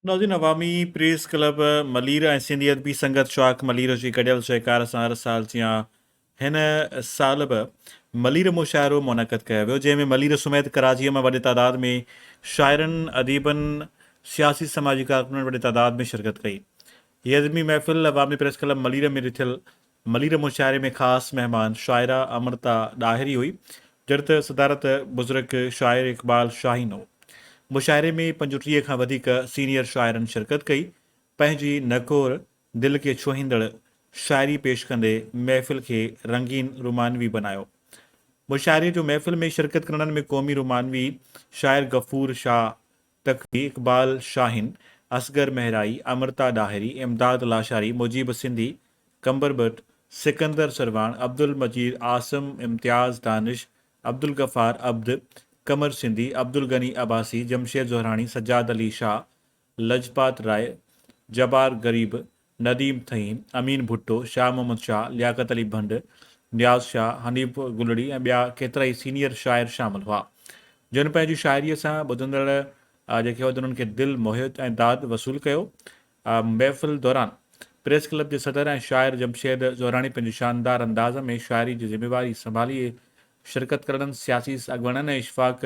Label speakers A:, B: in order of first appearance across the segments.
A: ناظرين Awami press club Malir ۽ Sindhi Adabi Sangat شاخ ملير جي گڏيل سهڪار سان هر سال جيان هن سال به ملير مشاعرو منعقد ڪيو ويو جنهن ۾ ملير سميت ڪراچيء مان وڏي تعداد ۾ شاعرن اديبن سياسي سماجي ڪارڪنن وڏي تعداد ۾ شرڪت ڪئي هيء ادبي محفل عوامي پريس ڪلب ملير ۾ رٿيل ملير مشاعري ۾ خاص مهمان شاعره امرتا ڏاهري هئي، جڏهن ته صدارت بزرگ شاعر اقبال شاهين هو. مشاعري ۾ پنج ٽيهه کان وڌيڪ سينيئر شاعرن شرڪت ڪئي، پنهنجي نڪور دل کي ڇهيندڙ شاعري پيش ڪندي محفل کي رنگين رومانوي بنايو. مشاعري جو محفل ۾ شرڪت ڪرڻن ۾ قومي رومانوي شاعر غفور شاهه، تقوي، اقبال شاهين، اصغر مهرائي، امرتا ڏاهري، امداد لاشاري، مجيب سنڌي، قمبر ٻٽ، سڪندر سرواڻ، عبدالمجيد، عاصم، امتياز، دانش، عبدالغفار، عبد، قمر سنڌي، عبدالغني عباسي، جمشيد زهراڻي، سجاد علي شاهه، لجپات راء، جبار غريب، نديم ٿهين، امين ڀٽو، شاهه محمد شاهه، لياقت علي ڀنڊ، نياز شاهه، حنيف گلڙي ۽ ٻيا ڪيترائي سينيئر شاعر شامل هئا، جن پنهنجي شاعريء سان ٻڌندڙ جيڪي هئا تنهن کي دل موهيو ۽ داد وصول ڪيو. محفل دوران پريس ڪلب جي صدر ۽ شاعر جمشيد زهراڻي پنهنجي شاندار انداز ۾ شاعري جي ذميواري سنڀالي شرڪت ڪرڻن سياسي اڳواڻن ۽ اشفاق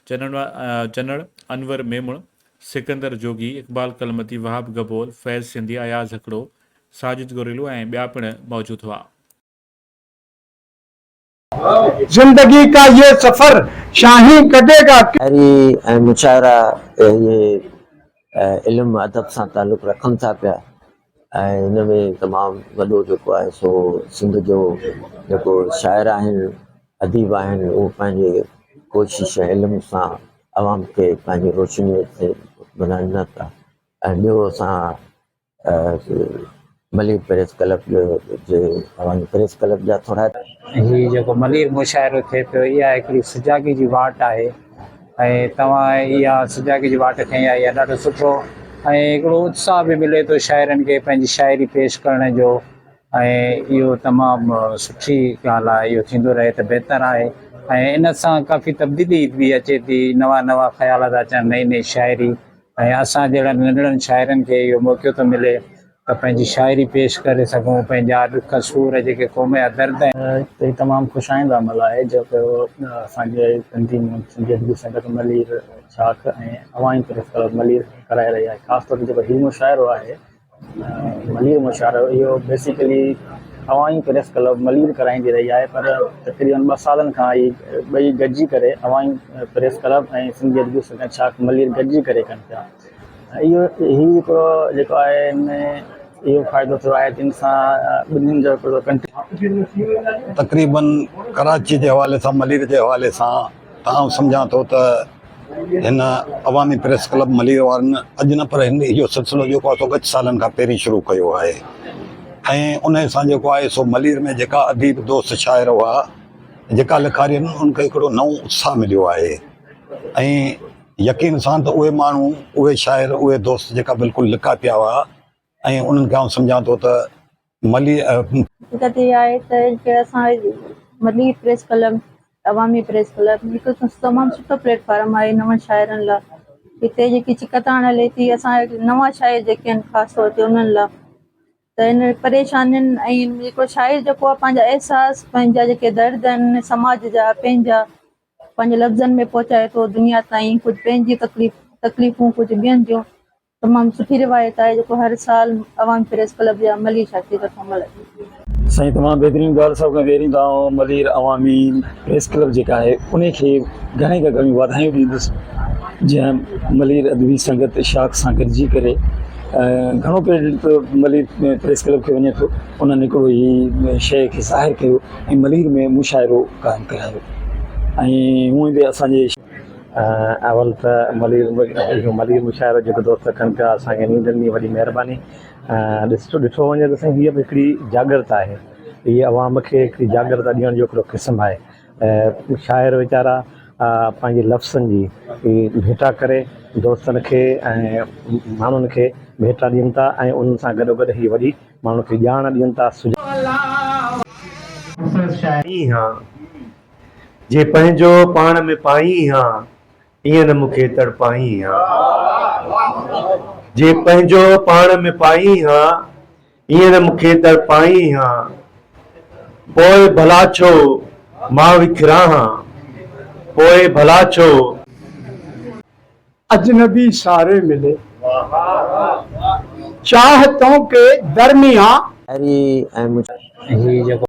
A: چنڙ، انور ميمڻ، سڪندر جوڳي، اقبال ڪلمتي، وهاب گبول، فيض سنڌي، اياز هڪڙو، ساجد گوريلو ۽ ٻيا پڻ موجود هئا.
B: زندگي ڪا يي سفر شاهين ڪٽي گا ڪس. شاعري ۽
C: مشاعره اهي علم ادب سان تعلق رکن ٿا پيا ۽ ان ۾ تمام وڏو جيڪو آهي سو سنڌ جو جيڪو شاعر آهن اديب آهن اهو پنهنجي ڪوشش ۽ علم سان عوام کي پنهنجي روشنيء تي ٻڌائين ٿا ۽ ٻيو اسان ملير پريس ڪلب جو جي اوهان پريس ڪلب جا ٿورا هي جيڪو
D: ملير مشاعرو ٿئي پيو اها هڪڙي سجاڳي جي واٽ آهي ۽ توهان اها سجاڳي جي واٽ کڻي آئي آهي ڏاڍو سٺو ۽ هڪڙو اتساهه به ملي ٿو شاعرن کي پنهنجي شاعري پيش ڪرڻ جو ۽ اهو تمام سٺي ڳالهه آهي اهو ٿيندو رهي ته بهتر آهي ۽ ان سان ڪافي تبديلي به اچي ٿي نوان نوان خيال ٿا اچن نئي نئي شاعري ۽ اسان جهڙن ننڍڙن شاعرن کي اهو موقعو ٿو ملي ته پنهنجي شاعري پيش ڪري سگهون، پنهنجا ڏک سور جيڪي قوم جا درد آهن. هي تمام خوش آئنده عمل آهي جو ڪيو اسان جي تنظيم سنڌي ادبي سنگت ملير شاخ ۽ اوهائين پريس ڪلب ملير ڪرائي رهي آهي خاص طور تي جيڪو هي مشاعرو آهي ملير مشاعرو اهو basically Awami press club Malir ڪرائيندي رهي آهي پر تقريبن ٻه سالن کان هي ٻئي گڏجي ڪري عوامي پريس ڪلب ۽ سنڌي ادبي سنگت شاخ ملير گڏجي ڪري ڪن پيا اهو هي هڪڙو جيڪو آهي ان ۾ اهو فائدو ٿيو آهي جن سان ٻنهين جو هڪڙو
B: تقريبن ڪراچي جي حوالي سان ملير جي حوالي سان تمام سمجهان ٿو ته هن عوامي پريس ڪلب ملير وارن اڄ نه پر هن اهو سلسلو جيڪو آهي سو ڳچ سالن کان پهرين شروع ڪيو آهي ۽ انهي سان جيڪو آهي سو ملير ۾ جيڪا اديب دوست شاعر هئا جيڪا لکاري آهن ان کي هڪڙو نئون اتساهه مليو آهي ۽ يقين سان ته اهي ماڻهو اهي شاعر اهي دوست جيڪا بلڪل لڪا پيا هئا ۽ انهن کي آئون سمجهان ٿو ته ملي
E: حقيقت اها آهي ته جيڪي اسان ملي press club Awami press club هڪ تمام سٺو پليٽ فارم آهي نون شاعرن لاء هتي جيڪي چڪتاڻ هلي ٿي اسان نوان شاعر جيڪي آهن خاص طور تي انهن لاء ته ان پريشانين ۽ جيڪو شاعر جيڪو آهي پنهنجا احساس پنهنجا جيڪي درد آهن سماج جا پنهنجا پنهنجي لفظن ۾ پهچائي ٿو دنيا تائين ڪجهه پنهنجي تڪليف تڪليفون ڪجهه ٻين جون تمام سٺي روايت آهي جيڪو هر سال عوامي پريس ڪلب جي عملي شاخي طرفان ملهايو. سائين تمام بهترين
D: ڳالهه سڀ کان پهرين ته آئون ملير عوامي پريس ڪلب جيڪا آهي انهي کي گهڻي کان گهڻيون واڌايون ڏيندس جنهن ملير ادبي سنگت شاخ سان گڏجي ڪري گهڻو ڪريڊٽ ملير پريس ڪلب کي وڃي ٿو انهن هڪڙو هي شيء کي ظاهر ڪيو ۽ ملير ۾ مشاعرو قائم ڪرايو ۽ هونئن به اسان جي اول ته ملير ملير مشاعرو جيڪو دوست ڪن پيا اسان کي نينڊ ڏني وڏي مهرباني ڏس ڏٺو وڃي ته سائين هيء بि هڪڙي جاڳرت آهي هي عوام کي هڪڙي جاڳرت ڏيڻ جو هڪڙو قسم آهي ۽ شاعر ويچارا پنهنجي لفظن جي ڀيٽا ڪري دوستن کي ۽ ماڻهن کي ڀيٽا ڏين ٿا ۽ انهن سان گڏو گڏ هي وڏي ماڻهن کي ڄاڻ ڏين ٿا سجاڳ
F: ڏين ٿا. جي پنهنجو پاڻ ۾ پائين ها، ايئن نه مون کي تڙپائين ها. جي پنهنجو پاڻ ۾ پائين ها، ايئن نه مون کي تڙپائين ها. پوء ڀلا ڇو مان وکران ها، پوء ڀلا ڇو.
G: اجنبي ساري ملي،
C: چاهه
D: تون
G: کي درميان.
C: هري ۽
G: مجهي. هي جيڪو.